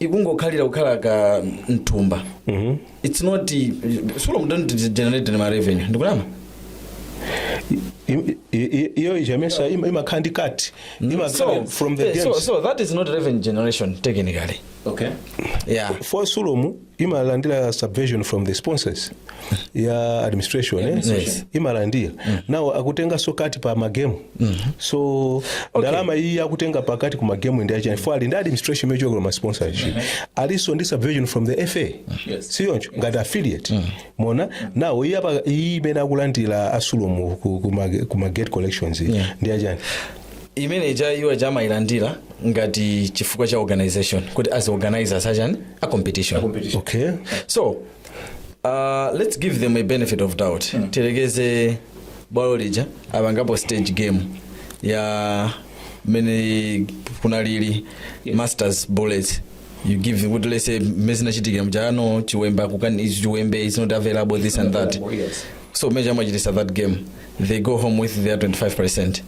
ikungokhalira kukhala ka mthumba its not sulom imene generate ma revenue ndikunama i- i- i- iyo ijamesa ima- imakhala ndi cut imakhala from the eh, so, games so that is not revenue generation technically okay yeah for sulom imalandira subvention from the sponsors ya administration eh? Yes. imalandira now akutenganso cut pa magemu so ndalama iyi akutenga pa cut ku magemu ndi yachani for ali ndi administration imene ikuchokera kwa sponsorship alinso ndi subvention from the fa siyoncho ngati affiliate now iyi apa iyi imene akulandira a sulom ku, ku, ma- ku ma gate collections iyi, ndi yachani imene iwo aja amayilandira ngati chifukwa cha organization kuti as organizers achani a competition okay so uh, let's give them a benefit of doubt tiyerekeze bwalo lija apangapo stage game ya mmene kunalili masters bullets you give what let's say mmene zinachitikira muja chiwembe kukana ichi chiwembe is not available this and that so mmene achititsa that game they go home with their 25 percent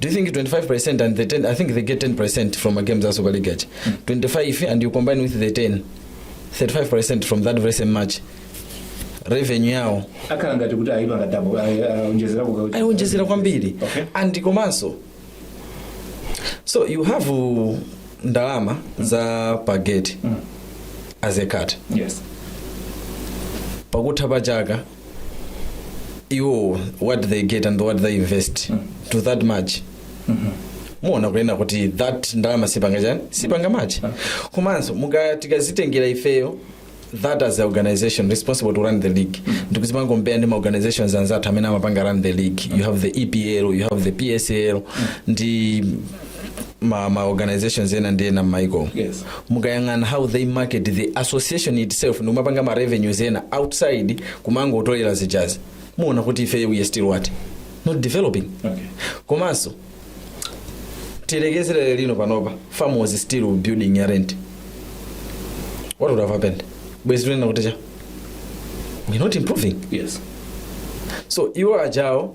Do you think 25% and the 10 I think they get 10% from ma game a Super League aja. 25 and you combine with the 10 35% from that very same match revenue yao akhala ngati kuti ayipanga double aonjezera kuka ayionjezera kwambiri Okay. and komanso so you have uh, ndalama za pageti as a cut yes pakutha pa chaka iwo what they get and what they invest to that match muona kunena kuti that ndalama sizipanga chani sizipanga match komanso muka tikazitengera ifeyo that as a organization responsible to run the league ndikuzipanga compare ndi maorganizations anzathu amene amapanga run the league you have the epl you have the psl ndi ma, ma organizations ena ndi ena m'maiko Yes. mukayang'ana how they market the association itself ndikumapanga ma revenues ena outside kumangotolera zijazi muona kuti ife we are still what not developing Okay. komanso tiyerekezere olo panopa fam was still pa building ya rent what would have happened bwezi tunena kuti chani we're not improving Yes. so iwo ajawo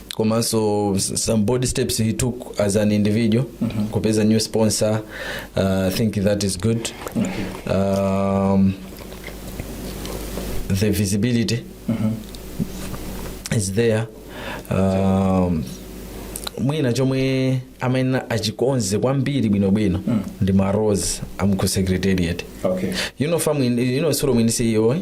komanso s- some bold steps he took as an individual kupeza new sponsor uh, i think that is good um, the visibility is there um, mwina chomwe mwina achikonze kwambiri bwinobwino ndi ma roles aku secretariat okay you know fam you know sulom muli CEO eh?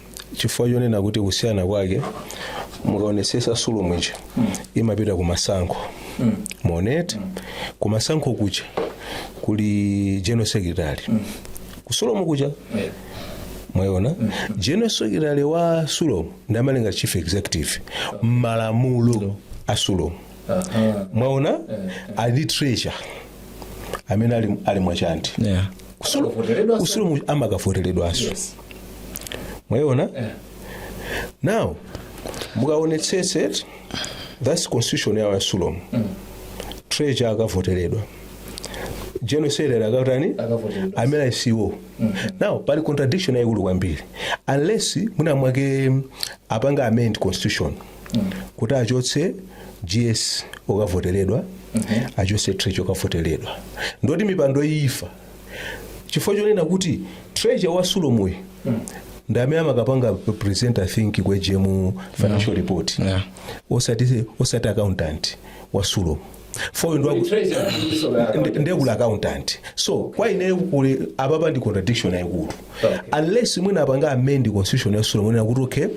chifukwa chonena kuti kusiyana kwake mukaonesesa sulomu ija imapita ku masankho mwaoneti ku masankho kuja kuli general secretary ku sulomu kuja mwayiona general secretary wa sulomu ndi amene ali ngati chief executive m'malamulo a sulomu Aha. mwaona Eh, eh. ali ndi treasurer amene ali, Allie Mwachande yeah. Kusulo- Akavoteredwa ku sulomu amakavoteredwanso Yes. mwayiona Eh. now mukaonetsetsa that's constitution yawo ya sulomu treasurer akavoteredwa general secretary akatani Akavoteredwa. amene ali CEO now pali contradiction yayikulu kwambiri unless mwina mwake apanga amend constitution kuti achotse gs okavoteredwa achotse treasurer okavoteredwa ndoti mipando iyi ifa chifukwa chonena kuti treasurer wa sulomu ndi amene amakapanga present i think ku agm financial report Yeah. osati osati accountant wa sulomu foyo ndi waku- Treasurer kulinso accountant. ndi- nde kuli accountant so kwa ineyo kuli apapa ndi contradiction yayikulu Okay. unless mwina apanga amend constitution ya sulomu kunena kuti okay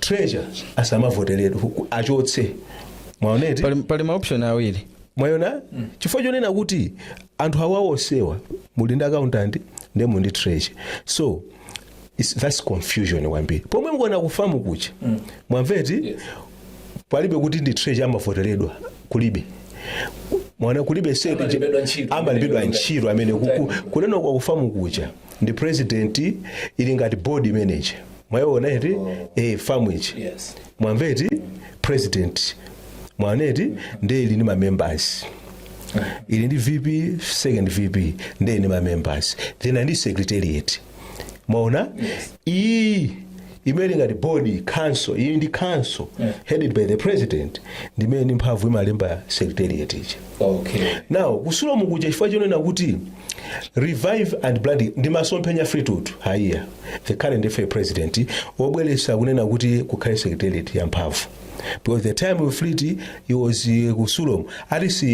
treasurer asamavoteredwe achotse mwaoneti pali, pali maoption awiri mwayona chifukwa chonena kuti anthu awa onsewa muli ndi accountant nde muli ndi treasurer so It's, that's confusion kwambiri pomwe mukuona ku famu kuja mwamveti palibe kuti ndi treasurer amavoteredwa kulibe mwaona kulibe se- Amalembedwa ntchito. amalembedwa ntchito amene kuku- kunena kwa ku famu kuja ndi president ili ngati board manager mwayiona eti eh famu ija Yes. mwamveti president mwaoneti ndiye ili ndi mamembers ili ndi vp second vp ndiye ndi mamembers then ndi secretariat mwaona iyi imene ili ngati board council iyi ndi council headed by the president ndimene ndi mphamvu imalemba secretariat ija okay now ku sulomu kuja chifukwa chonena kuti revive and rebrand ndi masomphenya fleetwood haiya the current fa president wobweretsa kunena kuti kukhale secretariat ya mphamvu because the time of fleet he was uh, ku sulom at least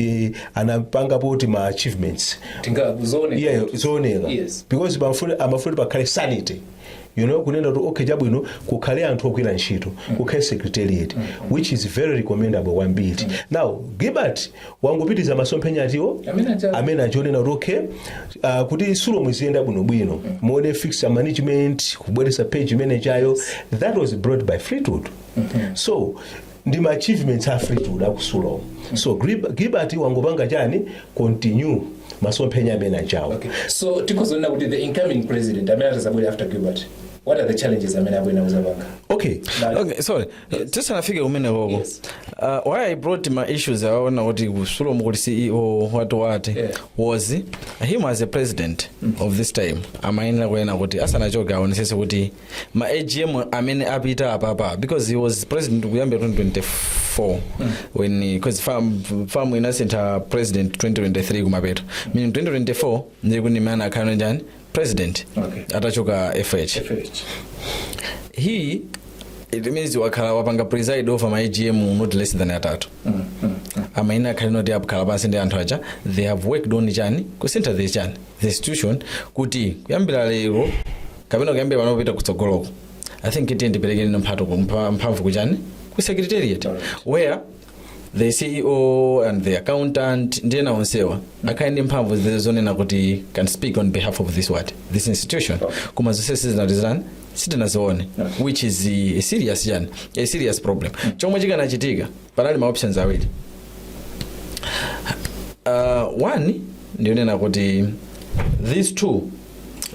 anapanga poti ma achievements tingazoone yeah, zooneka Yes. because pamfuni amafuna pakhale sanity you know kunena kuti okay chabwino kukhale anthu ogwira ntchito kukhale secretariat which is very recommendable kwambiri now gilbert wangopitiza masomphenya a fleetwood Amene aja- amene aja onena kuti okay uh, kuti sulomu iziyenda bwinobwino muone fix management kubweresa page imenejayo that was brought by fleetwood so ndi ma achievements a fleetwood a ku sulomu so Grib- gilbert wangopanga chani continue masomphenya amene achawo Okay. So tikuzoona kuti the incoming president amene atazabwera after Gilbert. What are the challenges amene abwera kuzapanga? okay Now, okay sorry tisanafike kumenekoko Yes. uh, why i brought ma issues awaona kuti ku sulomu kuli ceo what what Yeah. was him as a president of this time amayenera kunena kuti asanachoke aonesese kuti ma agm amene apita apapa because he was president kuyambira 2024 when because fam, fam inasintha president 2023 kumapeto meaning 2024 ndiye kuti mmene akhala chani president Okay. atachoka fh he it means wakhala wapanga preside over ma agm not less than atatu amayenera akhale kuti akhala pansi ndi anthu aja they have worked on chani kusintha the chani the institution kuti kuyambira lero kapena kuyambira pano kupita kutsogoloko i think tiyeni tipereke nino mphato ku- mpha- mphamvu kuchani ku secretariat where the ceo and the accountant ndi ena onsewa akhale ndi mphamvu zi- zonena kuti can speak on behalf of this what this institution koma zonsezi sitinazitani sitinazione which is eh, a serious chani a serious problem chomwe chikanachitika panali ma options awiri uh, one ndi yonena kuti these two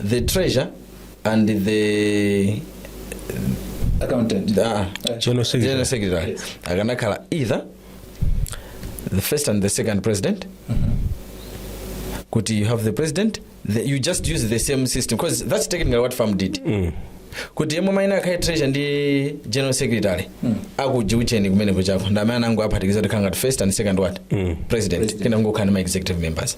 the treasure and the accountant ah, General Secretary. General Secretary. akanakhala either the first and the second president kuti you have the president the, you just use the same system because that's technically what farm did kuti yemwe maina akhaye treasure ndi general secretary akujiucheni kumene kuchako ndamene anango aphatikiza tikhala ngati first and second what president kena kungokhala ndi ma executive members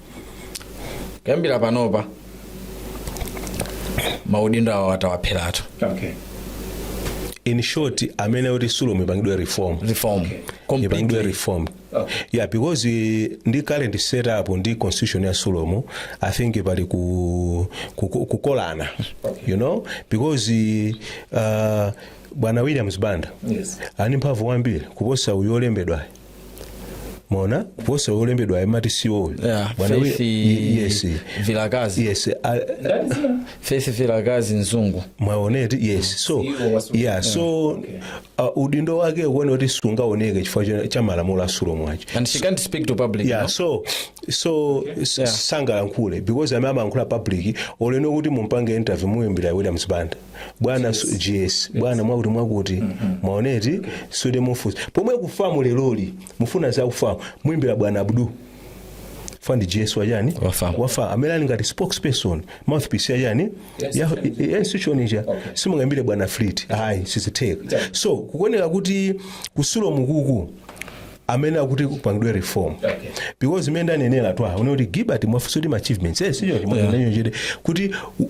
kuyambira panopa maudindo awo atawapheratu okay in short amayenera kuti sulomu ipangidwe reform reform ipangidwe completely reform Okay. yeah because eh, ndi current setup ndi constitution ya sulomu i think pali ku- ku- ku- kukolana you know because eh, uh, bwana williams banda Yes. ali ndi mphamvu kwambiri kuposa uyu wolembedwayo mwaona kuposa wolembedwa amati ceo Yeah, Bwana we- Faith Ye- yes Vilakati. yes a- Faith Vilakati Mzungu. mwaona eti yes so yeah so uh, udindo wake ukuona kuti sungaoneke chifukwa cha- cha malamulo a sulomu aja And she can't speak to public. yeah no? so so s- Yeah. sangalankhule because amene amalankhula public olo inu kuti mumpange interview muyimbira williams banda bwana gs bwana mwakuti mwakuti mwaona eti so kuti mufunsa pomwe ku famu leroli mufuna za ku famu muimbira bwana abdul ndi gs wa chani Wa famu. wa famu amene ali ngati spokesperson mouthpiece ya chani Yes, ya chani. ya institution ija Okay. simungaimbire bwana fleet ayi sizitheka Icha. so kukuoneka kuti ku sulomu kuku amayenera kuti kupangidwe reform Okay. because mmene ndanenera twaha uone kuti gilbert mwafunsa kuti ma achievements eh sicho chimwe Yeah. yeah. kuti u-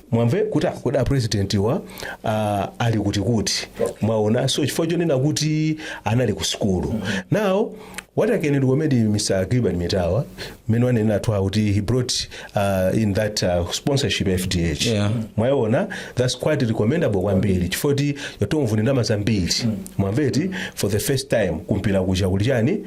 mwamve kuti ah, kodi apresidentiwa ah, ali kuti kuti mwaona so chifukwa chonena kuti anali ku sukulu now what i can recommend mr gilbert mitawa mmene wanenera athu awo kuti he brought uh, in that uh, sponsorship fdh Yeah. mwaona that's quite recommendable kwambiri chifukwa kuti yathu mvuni ndalama zambiri mwamva eti for the first time kumpira kucha kuli chani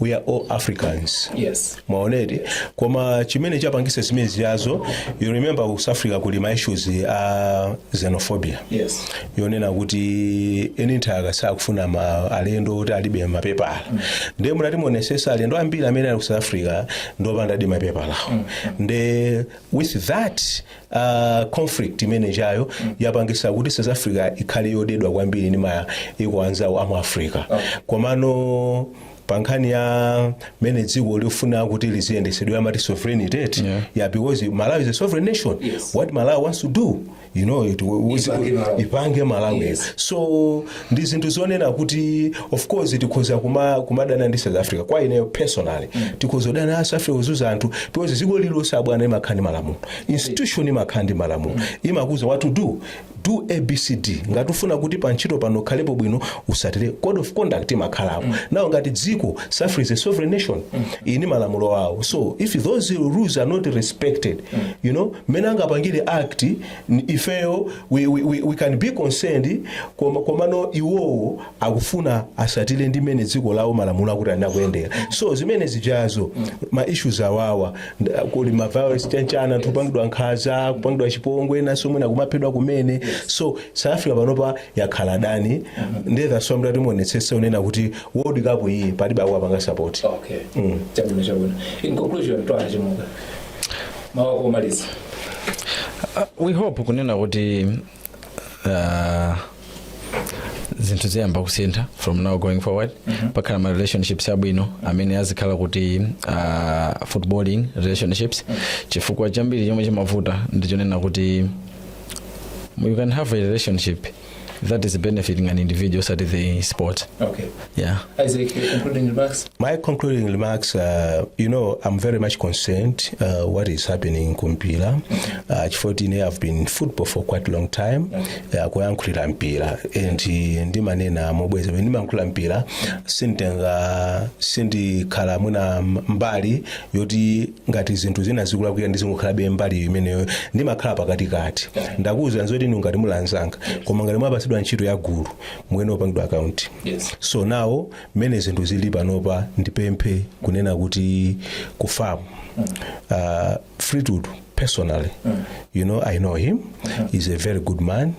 we are all africans yes mwaona eti koma chimene chapangisa zimene zijazo you remember ku south africa kuli ma issues a xenophobia yes yonena kuti eni nthaka sakufuna alendo oti alibe mapepala nde mukati muonesese alendo ambiri amene ali ku south africa ndi opandadi mapepala awo nde with that uh, conflict imene ijayo yapangisa kuti south africa ikhale yodedwa kwambiri ndi maiko anzawo amu africa komano pa nkhani ya mmene dziko lifuna kuti liziyendesedwe amati sovereignty eti Yeah. yeah because malawi is a sovereign nation Yes. what malawi wants to do you know it, Ipange Malawi. ipange malawi Yes. so ndi zinthu zonena kuti of course tikhoza kuma, kumadana ndi south africa kwa ineyo personally tikhoza kudana ndi south africa kuzuza anthu because dziko lililonse abwana imakhala ndi malamulo institution imakhala ndi malamulo imakuuza what to do do abcd ngati ufuna kuti pa ntchito pano ukhalepo bwino usatire code of conduct imakhalapo now ngati dziko south africa is a sovereign nation ili ndi malamulo awo so if those rules are not respected you know mmene angapangire act N- ifeyo we, we, we, we can be concerned koma, komano iwowo akufuna asatile ndi mmene dziko lawo malamulo akuti anakuyendera so zimene zijazo ma issues ajawa nd- kuli ma violence chanichani anthu kupangidwa nkhaza kupangidwa chipongwe enanso mwina kumaphedwa kumene so south africa panopa yakhala mdani ndiye that's why mukati muonetsese kunena kuti world cup iyi palibe akuwapanga support okay chabwino chabwino in conclusion twaha chimuka mawu omaliza Uh, we hope kunena kuti uh, zinthu ziyamba kusintha from now going forward pakhala ma relationships abwino amene azikhala kuti uh, footballing relationships chifukwa chambiri chomwe chimavuta ndichonena kuti you can have a relationship that is benefiting an individual osati the sport Okay. yeah Isaac, your concluding remarks? My concluding remarks, uh, you know, I'm very much concerned uh, what is happening kumpira. Uh, Chifukwa choti ine, I've been in football for quite a long time. Uh, kuyankhulira mpira and uh, ndimanena mobweza pamene ndimayankhulira mpira sinditenga sindikhala mwina mbali yoti ngati zinthu zina zikulakwika ndizingokhalabe mbali imeneyo ndimakhala pakatikati ndakuwuzira zoti inu ngati muli anzanga koma ngati mwapatsidwa ntchito ya gulu muyenera kupangidwa akaunti Yes. so nawo mmene zinthu zili panopa ndipemphe kunena kuti ku FAM uh, Fleetwood personally you know I know him he's a very good man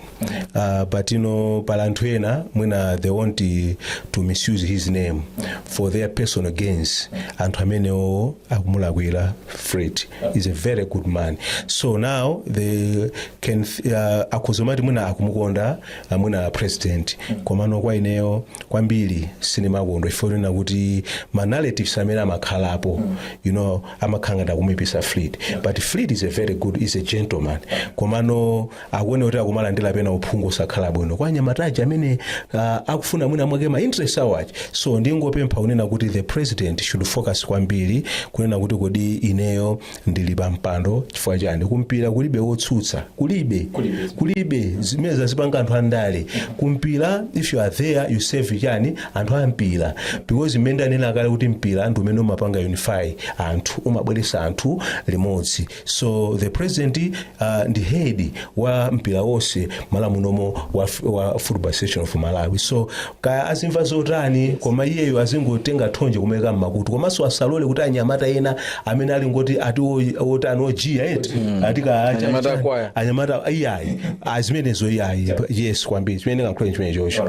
Uh, but you know, pali anthu ena mwina they want eh, to misuse his name for their personal gains anthu amenewo akumulakwira fleet is a very good man so now they can uh, akhuzomati mwina akumukonda uh, mwina president komano kwa ineyo kwambiri sindimakondwa kunena kuti ma narratives amene amakhalapo you know amakhala ngati akumuipisa fleet but fleet is a very good is a gentleman komano akuone kuti akumalandira pena uphungu osakhala bwino kwa anyamata aja amene uh, akufuna mwina mwake ma interest awo aja so ndingopempha kunena kuti the president should focus kwambiri kunena kuti kodi ineyo ndili pa mpando chifukwa chani kumpira kulibe wotsutsa kulibe kulibe, kulibe. zimene zazipanga anthu andale kumpira if you are there you serve chani anthu ampira because mmene ndanena kale kuti mpira ndi umene umapanga unify anthu umabweresa anthu limodzi so the president uh, ndi head wa mpira wonse Malawi munomo wa, f- wa football association of malawi so kaya azimva zotani koma iyeyo azingotenga thonje kumeka mmakutu komanso asalole kuti anyamata ena amene alingoti ati o- otani ojiya eti ati ka acha- Anyamata acha- akwaya. anyamata iyayi azimenezo iyayi yes kwambiri chimene kankhule chimene chocho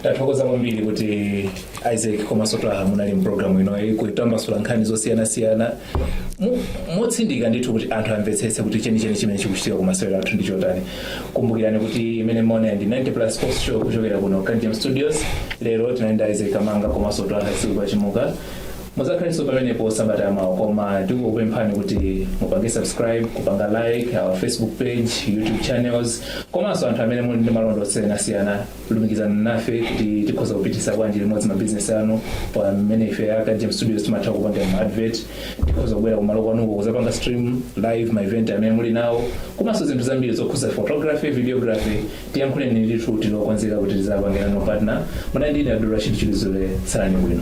tathokoza kwambiri kuti isaac komanso twaha munali mpulogalamu inoyi kutambasula nkhani zosiyanasiyana motsindika ndithu kuti anthu amvetsetse kuti chenicheni chimene chikuchitika ku masewero athu ndi chotani kumbukirani kuti imene mwaona ndi 90 plus sports show kuchokera kuno ku James studios lero tinali ndi isaac kamanga komanso twaha siku pachimuka muzakhalinso pamenepo sabata yamawa koma tikukupemphani kuti mupange subscribe kupanga like our facebook page youtube channels komanso anthu amene muli ndi malonda osiyanasiyana lumikizana nafe kuti tikhoza kupitisa bwanji limodzi mabizinesi anu pamene ife a James Studios timatha kupanga ma advert tikhoza kubwera kumalo kwanuko kuzapanga stream live ma event amene muli nawo komanso zinthu zambiri zokhuza photography videography tiyankhuleni ndithu tili okonzeka kuti tizapange nanu partner munali ndine Abdul Rashid Chilizule salani bwino